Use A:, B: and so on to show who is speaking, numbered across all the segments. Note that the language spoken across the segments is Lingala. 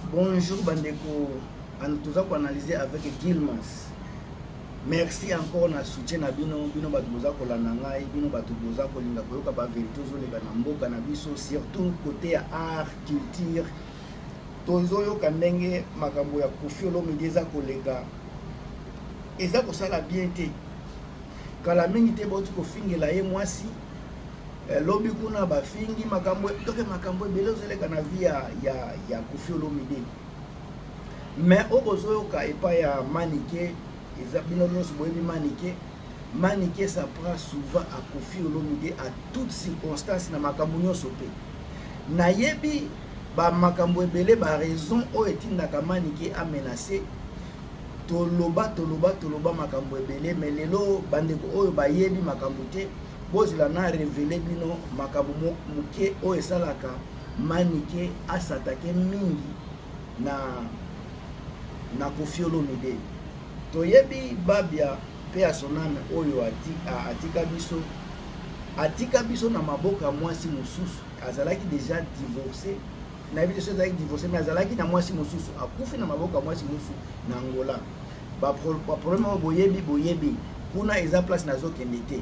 A: Bonjour bandeko, toza ko analyser avec Gilmas. Merci encore na soutien na bino, bino bato boza kolanda ngai, bino bato boza kolinga koyoka ba verite ozoleka na mboka na biso, surtout côté ya art, culture. Tozoyoka ndenge makambo ya Koffi Olomide eza koleka, eza kosala bien te. Kala mingi te bauti kofingela ye mwasi eh, lobi kuna bafingi makambo toke makambo ebele ozoleka na vie ya, ya, ya kofi olomide mais oyo bozoyoka epai ya manike eza bino nyonso boyebi manike manike sa prend souvent à kofi olomide à toute circonstance na makambo nyonso mpe nayebi bamakambo ebele baraison oyo etindaka manike amenace Toloba, toloba, toloba makambo ebele, mais lelo bandeko oyo bayebi makambo te, bozela na revele bino makambo moke oyo esalaka Manike asatake mingi na na Koffi Olomide. Toyebi Babia pe a son ame oyo atika biso atika biso na maboko ya mwasi mosusu, azalaki deja divorce nayebi te soki ezalaki divorce mais azalaki na mwasi mosusu akufi na maboko ya mwasi mosusu na angola baproblème oyo boyebi boyebi kuna eza place nazokende te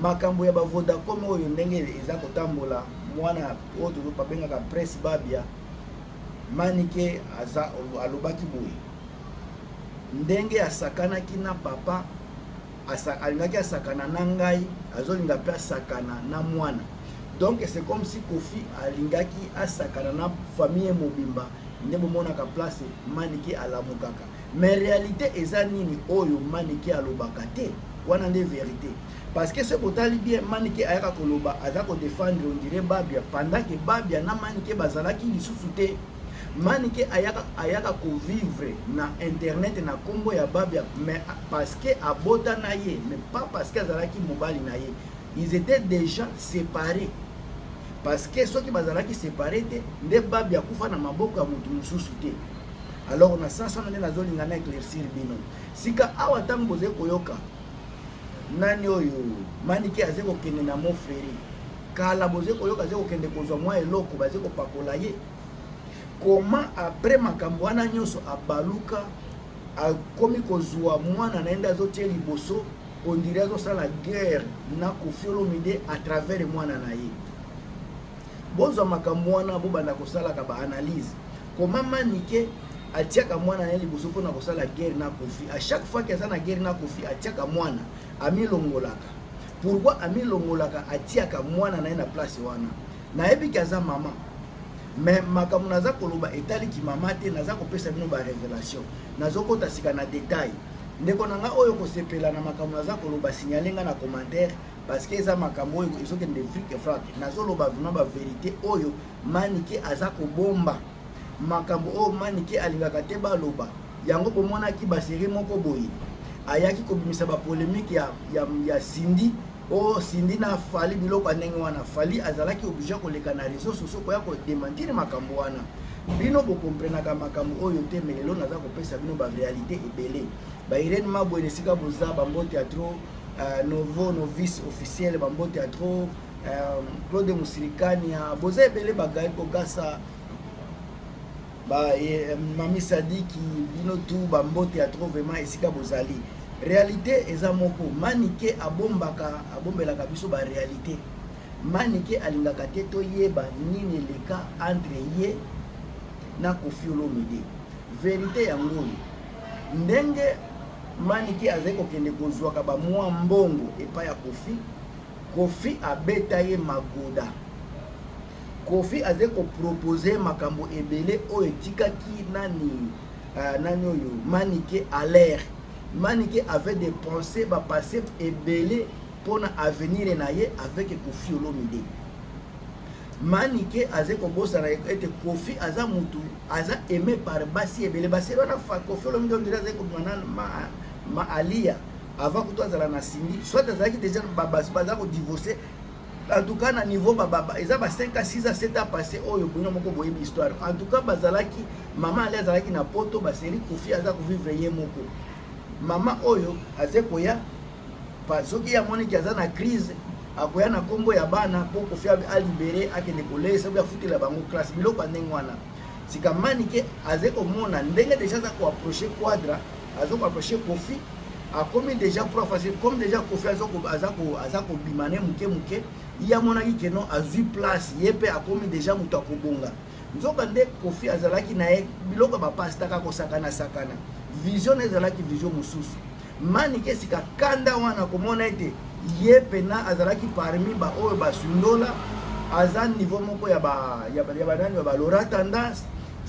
A: makambo ya bavodacom oyo ndenge eza kotambola mwana oyo tozobabengaka presse babia manike aza alobaki boye ndenge asakanaki na papa asa, alingaki asakana na ngai azolinga mpe asakana na mwana donc c'est comme si kofi alingaki asakana na famille mobimba nde bomonaka place manike alamukaka mais réalité eza nini oyo manike alobaka te wana nde verité parce que soki botali bien manike ayaka koloba aza kodefendre ondire babia pendant ke babia na manike bazalaki lisusu te Manike ayaka ayaka ko vivre na internet na kombo ya Babia mais parce que abota na ye mais pas parce que azalaki mobali na ye. Ils étaient déjà séparés. Parce que soki bazalaki séparés te nde Babia kufa na maboko ya mutu mususu te. Alors na sens wana nde nazolinga na éclaircir bino. Sika awa tango boze koyoka nani oyo Manike aze kokende na Moferi kala boze koyoka aze kokende kozwa mwa eloko baze kopakola ye koma apres makambo wana nyonso abaluka akomi kozwa mwana na ye nde azotie liboso ondire azosala guerre na kofiolomide a travers mwana na ye bozwa makambo wana bobanda kosalaka baanalyse koma manike atiaka mwana na ye liboso mpona kosala guerre na kofi a chaque fois ke aza na guerre na kofi atiaka mwana amilongolaka Pourquoi amilongolaka atiaka mwana na ye na place wana? Nayebi ke aza mama mais makambo naza koloba etali kimama te, naza kopesa bino ba revelation, nazokota sika na detail. Ndeko na nga oyo kosepela na makambo naza koloba, signale nga na commentaire parce que eza makambo oyo ezokende vrike vrake. Nazoloba vraiment ba verite oyo Manike aza kobomba. makambo oyo manike alingaka te baloba yango bomonaki baserie moko boye ayaki kobimisa bapolemike ya, ya, ya sindi o oh, sindi na fali biloko ya ndenge wana fali azalaki oblige koleka na réseau sociaux koya kodementire makambo wana bino bokomprenaka makambo oyo te me lelo naza kopesa bino barealité ebele bairene mabwe na esika boza bambote ya tro uh, novo novice officiel bambote ya tro uh, claude musilikania boza ebele bagai kogasa ba eh, mami sadiki bino tu bambote ya trop vraiment esika bozali réalité eza moko manike abombaka abombelaka biso ba réalité manike alingaka te toyeba nini eleka entre ye na kofi olomide verité yango oyo ndenge manike azali kokende kozwaka bamwa mbongo epai ya kofi kofi abeta ye magoda Koffi azali ko proposer makambo ebele oyo etikaki nani uh, nani oyo Manike Alaire Manike avait des pensées ba passé ebele mpona avenir na ye avec Koffi Olomide Manike azali kobosana ete Koffi aza mutu aza aimé par basi ebele basi wana fa Koffi Olomide ondire azali kobima na ma, ma Aliya avant kutu azala na Cindy soit azalaki déjà babasi baza kodivorce En tout cas na niveau ba baba eza ba 5 à 6 à 7 ans passé oyo bino moko boyebi histoire. En tout cas bazalaki maman ali azalaki na poto ba seri kufi aza ko vivre ye moko. Maman oyo aze koya pa soki ya moni ki aza na crise akoya na kombo ya bana po kufi a libere akende kolesa ko afutela bango classe biloko ndenge wana. Sika manike aze komona ndenge deja aza ko approcher quadra azo ko approcher kofi akomi deja pro facile comme deja kofi aza kobima ne moke moke ye amonaki ke non azwi place ye mpe akomi deja moto akobonga nzoka nde kofi azalaki na ye biloko ya bapastaka kosakana sakana vision na ezalaki vision mosusu manike sika kanda wana komona ete ye mpena azalaki parmi baoyo basundola aza niveau moko ya banani ya balora tendance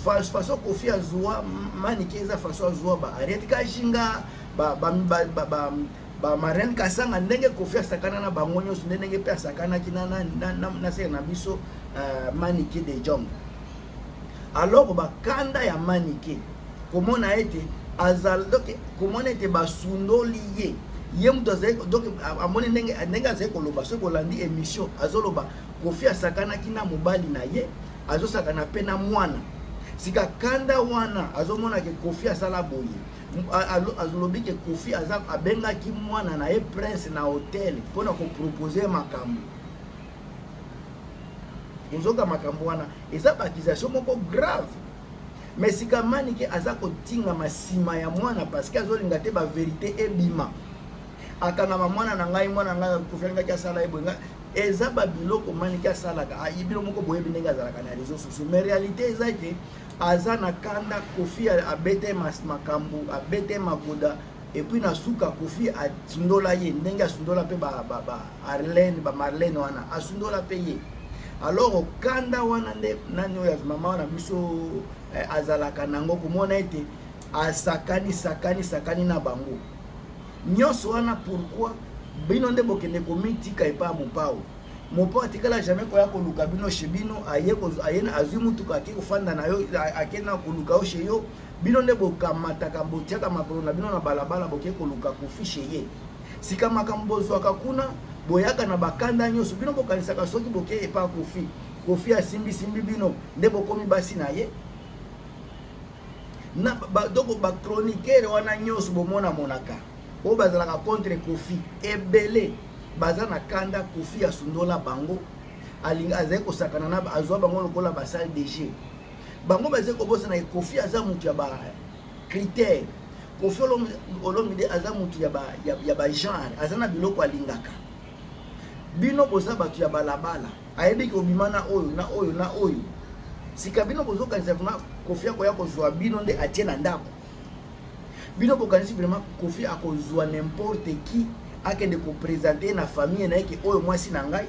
A: façon kofi azua manike eza façon azua ba ariete kashinga ba, ba, ba, ba, ba bamarene kasanga ndenge kofi asakana na bango nyonso nde ndenge mpe asakanaki na sere na biso euh, manike de jong alors bakanda ya manike komona ete azali donc komona ete basundoli ye ye moto azali donc amoni ndenge ndenge azali koloba soki kolandi émission azoloba kofi asakanaki na mobali na ye azosakana mpe na mwana sika kanda wana azomona ke kofi asala boye alobi ke kofi aza abengaki mwana na ye prince na hotel mpo na kopropose makambo ozoka makambo wana eza baakization moko grave me sika manike aza kotingama nsima ya mwana parceke azolinga te baverité ebima akangama mwana na ngai mwana na ngai kofi alingaki asala ye boye eza ba biloko manike asalaka ayi bino moko boyebi ndenge azalaka na réseau sociaux mais réalité eza ete aza na kanda kofi abete makambo abete magoda epuis na suka kofi asundola ye ndenge asundola mpe baarlene bamarlene wana asundola mpe ye alors kanda wana nde nani oyo mama wana biso eh, azalaka nango komona ete asakani sakani sakani na bango Nionso wana pourquoi bino nde bokende komitika epa ya mopao mopo atikala jamais koya koluka bino chez bino aye azwi mutuka ake kofanda na yo ake na koluka yo chez yo bino nde bokamataka botiaka makolo na bino na balabala boke koluka kofi chez ye sika makambo bozwaka kuna boyaka na bakanda nyonso bino bokanisaka soki boke epa kofi kofi asimbisimbi bino nde bokomi basi na ye na ba, donc ba chroniqueur wana nyonso bomona monaka oyo bazalaka contre kofi ebele baza na kanda kofi asundola bango alingi azali kosakana na azwa bango lokola basale de jeu bango bazali kobosana ye kofi aza moto ya ba critère kofi olomide aza moto ya ba, ya, ya ba genre aza na biloko alingaka bino boza bato ya balabala ayebi ke obima na oyo na oyo na oyo sika bino bozokanisa vraimen kofi akoya kozwa bino nde atie na ndako bino bokanisi vraimen kofi akozwa nimporte qui akende kopresente na famille na ye ke oyo mwasi na ngai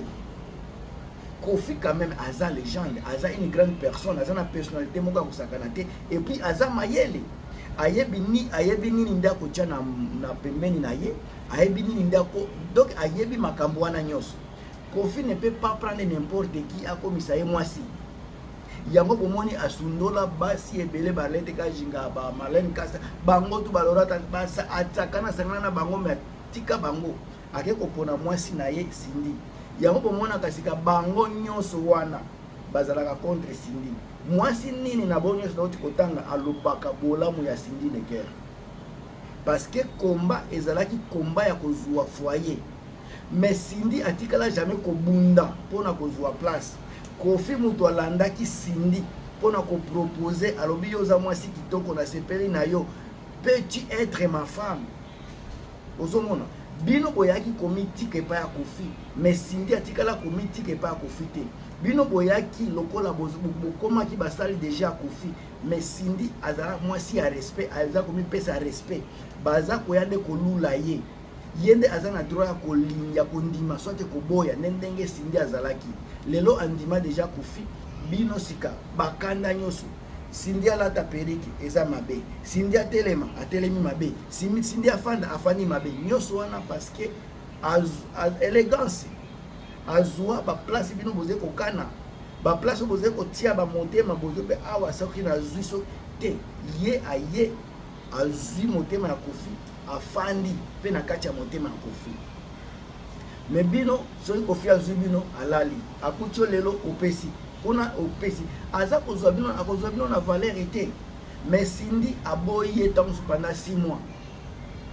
A: kofi quand même aza legende aza une grande personne aza na personnalité moko ya kosakana te epuis aza mayele ayebi ni ayebi nini nde akotya na, na pembeni na ye ayebi nini nde ako donc ayebi makambo wana nyonso Koffi ne peut pas prendre n'importe qui akomisa ye mwasi yango bomoni asundola basi ebele barlete kajinga ba marlene kasa bango tu balorata atsakana asangana na bango me atika bango ake kopona mwasi na ye sindi yango bomonaka sika bango nyonso wana bazalaka contre sindi mwasi nini na bango nyonso nauti kotanga alobaka bolamu ya sindi neger parce que komba ezalaki komba ya kozwa foyer Mais Cindy atikala jamais kobunda pona kozua place. Koffi mutu alandaki Cindy pona ko proposer alobi yo oza mwasi kitoko na sepeli na yo peux tu être ma femme ozomona bino boyaki komitika epai ya kofi mais sindi atikala komitika epai ya kofi te bino boyaki lokola bokomaki basali deja ya kofi mais sindi azala mwasi ya respect aza komipesa respect baza koya nde kolula ye ye nde aza na droit ya kolinga ya kondima soit koboya nde ndenge Cindy azalaki lelo andima deja kufi bino sika bakanda nyonso Cindy alata perike eza mabe Cindy atelema atelemi mabe Cindy afanda afandi mabe nyonso wana parce que elegance azwa baplace bino boze kokana baplace oyo boze kotia bamotema bozo mpe awa soki nazwi so te ye aye azwi motema ya kofi afandi mpe na kati ya motema ya kofi me bino soki kofi azwi bino alali akuti yo lelo opesi kuna opesi aza kozwa bino akozwa bino na valeri te me sindi aboyi ye ntango supanda si mois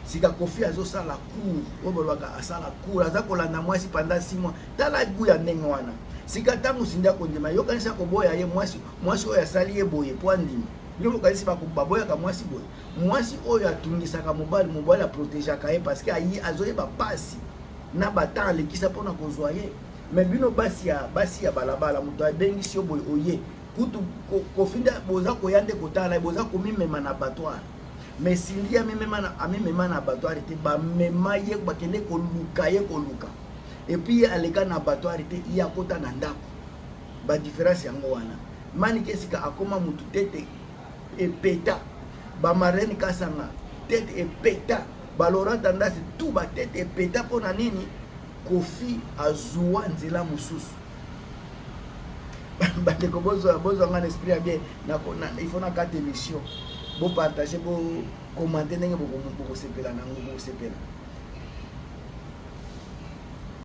A: sika kofi azosala cour oyo balobaka asala cour aza kolanda mwasi panda si mois tala gu ya ndenge wana sika ntango sindi akondima yokanisi akoboya ye mwasi mwasi oyo asali ye boye mpo andima Bino bokanisi ba couple baboyaka mwasi boye? Mwasi oyo atungisaka mobali, mobali a protegeaka ye parce que ayi azoyeba pasi na ba temps alekisa pona kozwa ye. Mais bino basi ya basi ya balabala moto abengisi yo boye oye kutu kofinda boza koya nde kotala ye boza komimema na abattoir mais sindi amimema na amimema na abattoir te bamema ye bakende koluka ye koluka epuis ye aleka na abattoir te ye akota na ndako Ba difference yango wana. Manike sika akoma mutu tete epeta. Ba marraine kasanga tete epeta. Ba Laurent Tendance tout ba tete epeta pona nini? Kofi azua nzela mususu. Bandeko bozwa bozwa ngana esprit ya bien na il faut na kata émission. Bo partager bo commenter ndenge bokosepela nango bokosepela.